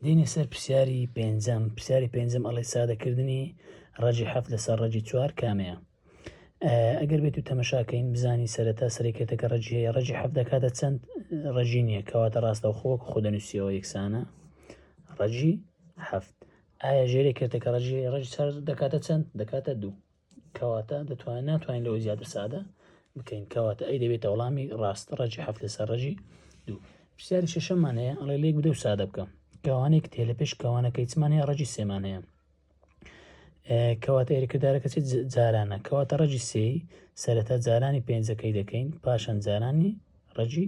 دێینە سەر پرسیاری پێنجەم پرسیاری پێنجەم ئەڵێ سادەکردنی ڕەجی حەفت لەسەر ڕەجی چوار کامەیە ئەگەر بێت و تەمەشاکەین بزانی سەرەتا سەرکێتەکە ڕەجی هەیە ڕەجی حەف دەکاتە چەند ڕەجی نییە کەواتە ڕاستە و خۆک خۆدەنووسیەوە یەکسانە ڕەجی هەفت ئایا ژێرێکێتەکە ڕژی ڕژ سەر دەکاتە چەند دەکاتە دوو کەواتە دەتوانین ناتوانین لەوە زیاتر سادە بکەین کەواتە ئەی دەبێتە وەڵامی ڕاست ڕەجی هەفت لەسەر ڕەجی دوو پرسیاری شەشەمان هەیە ئەڵێ لێک بدە و سادە بکەم کەوانێک تێ لە پێش کەوانەکەی چمان هەیە ڕەجی سێمان هەیە کەواتە ئێرەکردارەکە چێت جارانە کەواتە ڕەجی سێی سەرەتا جارانی پێنجەکەی دەکەین پاشان جارانی ڕەجی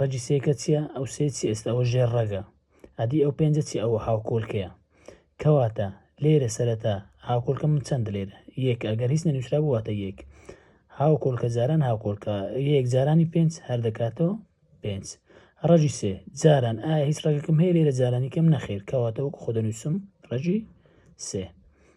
ڕەگی سێکە چییە ئەو سێ چی ئێستا ئەوە ژێر ڕەگە ئەدی ئەو پێنجە چی ئەوە هاوکۆلکەیە کەواتە لێرە سەرەتا هاوکۆلکە من چەند لێرە یەک ئەگەر هیچ نەنووسرا بواتە یەک هاوکۆلکە جاران هاوکۆلکە یەک جارانی پێنج هەر دەکاتەوە پێنج ڕەژی سێ جاران ئایا هیچ ڕێگەکەم هەیە لێرە جارانی کەم نەخێر کەواتەوەکو خۆ دەنووسم ڕەژی سێ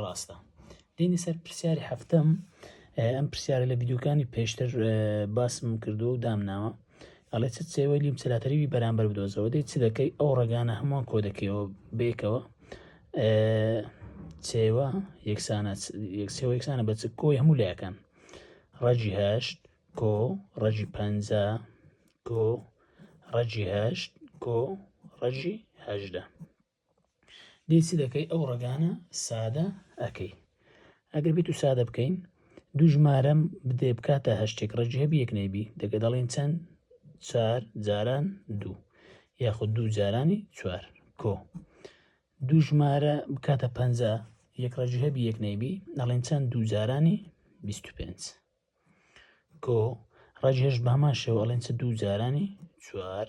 ڕاستە دینی سەر پرسیاری هەفتم ئەم پرسیارە لە یددیوکانی پێشتر باسم کردو و دامناوە ئەڵێ چ سێوەی لیم سەلاتەریوی بەرامبەر بدۆزەوە دەی چ دەکەی ئەو ڕگانە هەمووان کۆ دەکەیەوە بێکەوە سێوە یەکسانە سێوە یەکسانە بە چ کۆی هەموو لایەکان ڕەجی هەشت کۆ ڕەجی پ کۆ ڕەجی هەشت کۆ ڕەجی هەژدە دی چ دەکەی ئەو ڕەگانە سادە ئەکەی ئەگەر بیت و سادە بکەین دوو ژمارەم بدێ بکاتە هەشتێک ڕێژی هەبی یەک نەیبی دەگە دەڵین چەند چار جاران دوو یاخود دوو جارانی چوار کۆ دوو ژمارە بکاتە پ یەک ڕێژی هەبی یەک نەیبی دەڵێن چەند دوو جارانی 25 کۆ ڕێژهێش بەمان شێوە ئەڵێن چ دوو جارانی چوار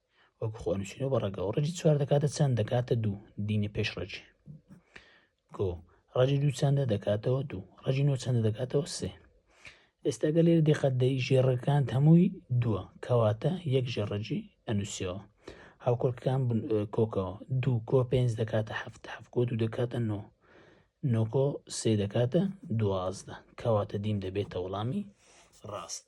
وەک خۆ نووسینەوە بە ڕەگەوە ڕەجی چوار دەکاتە چەند دەکاتە دوو دینە پێش ڕەجی گۆ ڕەجی دوو چەندە دەکاتەوە دوو ڕەجی نۆ چەندە دەکاتەوە سێ ئێستاگە لێر دقەت دەی ژێڕەکان هەمووی دووە کەواتە یەک ژێڕەجی ئەنووسەوە هاوکۆکەکان کۆکەوە دوو کۆ پێنج دەکاتە هەفت هەفکۆ دوو دەکاتە نۆ نۆکۆ سێ دەکاتە دوازدە کەواتە دیم دەبێتە وەڵامی ڕاست